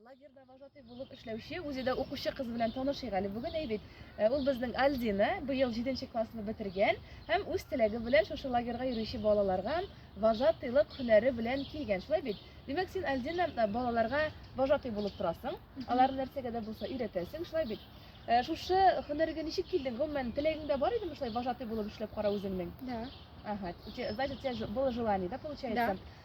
Лагерьда вожатый булып эшләүче, үзе дә укучы кыз белән танышыйк әле бүген, әй бит. Э, ул безнең Альдина, быел 7 классны бетергән һәм үз теләге белән шушы лагерьга йөрүче балаларга вожатыйлык һөнәре белән килгән. Шулай бит? Димәк, син Альдина э, балаларга вожатый булып торасың. Алар нәрсәгә дә булса өйрәтәсең, шулай бит? Э, шушы һөнәргә ничек килдең? Гомумән, теләгеңдә бар идеме шулай вожатый булып эшләп кара үзеңнең? Да. Ага. Значит, у тебя было желание, да, получается? Да.